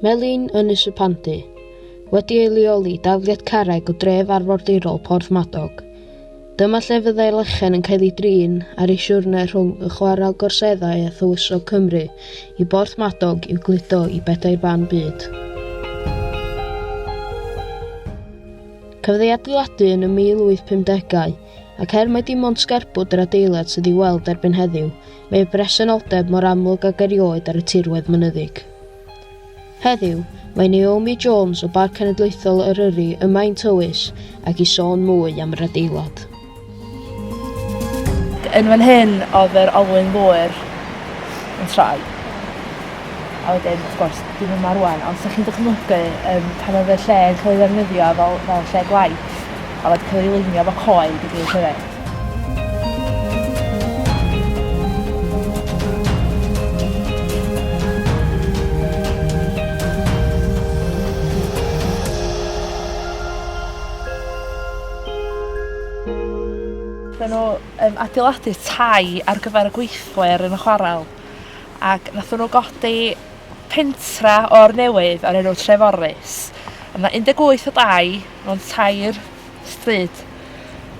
Melin Ynys y Pandy, wedi ei leoli dafliad carreg o dref arfordirol Porth Madog. Dyma lle fyddai lechen yn cael ei drin ar ei siwrne rhwng y chwarel gorseddau a thywysog Cymru i Borth Madog i'w gludo i bedair ban byd. Cafodd ei adeiladu yn y 1850au, ac er mai dim ond sgerbwd yr adeilad sydd i'w weld erbyn heddiw, Mae presenoldeb mor amlwg ag erioed ar y tirwedd mynyddig. Heddiw, mae Naomi Jones o Barc Cenedlaethol Eryri ym Maen Tywys ac i sôn mwy am yr adeilad. Yn fan hyn oedd yr olwyn ddŵr yn troi. A wedyn, wrth gwrs, dim yma rwan, ond sa'ch chi'n dychmygu um, pan oedd y lle yn cael ei ddefnyddio fel, fel lle gwaith, a wedi cael ei lunio fo coed i gyd hefyd. Mae nhw yn adeiladu tai ar gyfer y gweithle ar yn y chwarel ac nath nhw godi pentra o'r newydd ar enw Treforys. Mae 'na 18 o dai mewn tair stryd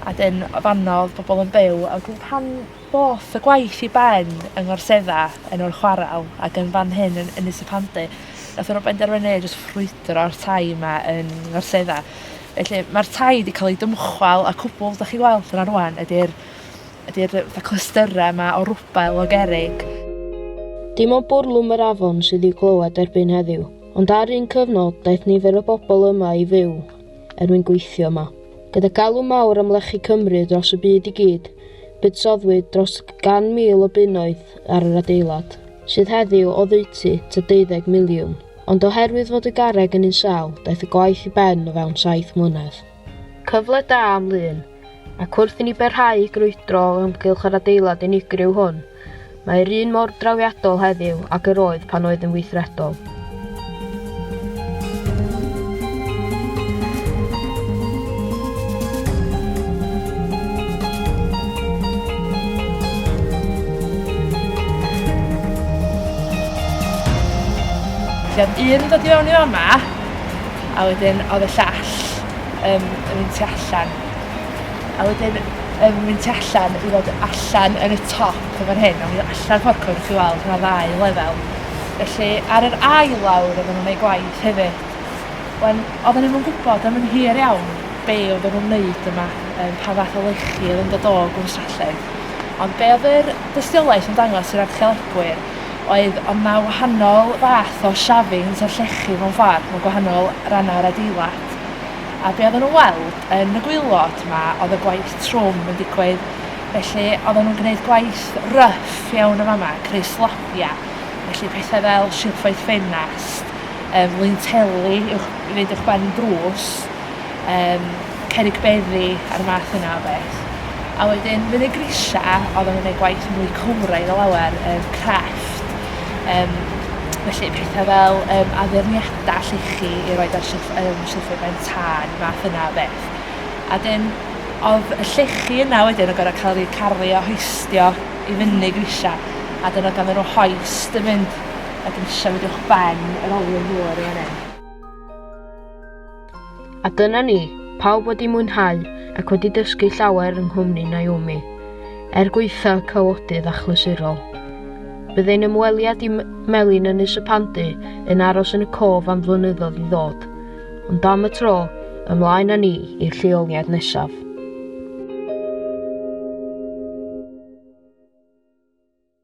a 'dyn o fanno o'dd pobol yn byw a wedyn pan ddoth y gwaith i ben yng Ngorsedda yn o'r chwarel ac yn fan hyn yn Ynys y Pandy nathon nw benderfynu jyst ffrwydro'r tai 'ma yn Ngorsedda. Felly ma'r tai 'di ca'l 'u dymchwel a cwbwl 'dach chi weld yna rŵan ydi'r ydi'r yy fatha clystyre 'ma o rwbel o gerrig. Dim ond bwrlwm yr afon sydd i'w glywed erbyn heddiw, ond ar un cyfnod daeth nifer o bobol yma i fyw er mwyn gweithio yma. Gyda galw mawr am lechi Cymru dros y byd i gyd, buddsoddwyd dros gan mil o bunnoedd ar yr adeilad, sydd heddiw oddeutu tua deuddeg miliwn. Ond oherwydd fod y garreg yn un sâl, daeth y gwaith i ben o fewn saith mlynedd. Cyfle da am Lŷn. ac wrth i ni barhau i grwydro o ymgylch yr adeilad unigryw hwn, mae'r un mor drawiadol heddiw ac yr oedd pan oedd yn weithredol. Felly oedd un yn dod i fewn i fama, a wedyn oedd y llall. Yym yn mynd tu allan. A wedyn yn mynd tu allan i fod allan yn y top yn fan hyn, a mi allan ffordd cwrdd chi weld ma' ddau lefel. Felly ar yr ail lawr oedden nhw'n ei gwaith hefyd. Wen, oedden nhw'n gwybod am yn hir iawn be oedd nhw'n wneud yma, um, pa fath o lechi oedd yn dod o gwn Stralledd. Ond be oedd yr dystiolaeth yn dangos i'r archeolegwyr oedd ond mae wahanol fath o shavings o'r llechi mewn ffordd, mae gwahanol rannau'r adeilad. Gwylod. A be oedden nhw'n weld yn y Gwylod ma oedd y gwaith trwm yn digwydd. Felly oedden nhw'n gwneud gwaith rough iawn yn fama, creu slabiau, felly pethau fel silffoedd ffenast, um, linteli i'w i fynd i'ch ben drws, um, cerig beddi a'r math yna o beth. A wedyn fydd y grisiau oedd yn gwneud gwaith mwy cywraidd o lawer, um, crefft, um, felly pethau fel um, addurniadau dall ichi i roed ar shelf, um, shelfie ben tân, math yna o beth. A dyn, oedd y llechi yna wedyn yn gorau cael eu caru a hoistio i fyny grisiau, a dyn oedd ganddyn nhw hoist yn mynd a grisiau wedi uwch ben yr olwyn ddŵr yn fan hyn. A dyna ni, pawb wedi mwynhau ac wedi dysgu llawer yng nghwmni Naomi, er gwaetha cawodydd achlysurol. Bydd ein ymweliad i Melin Ynys y Pandy yn aros yn y cof am flynyddoedd i ddod, ond am y tro, ymlaen â ni i'r lleoliad nesaf.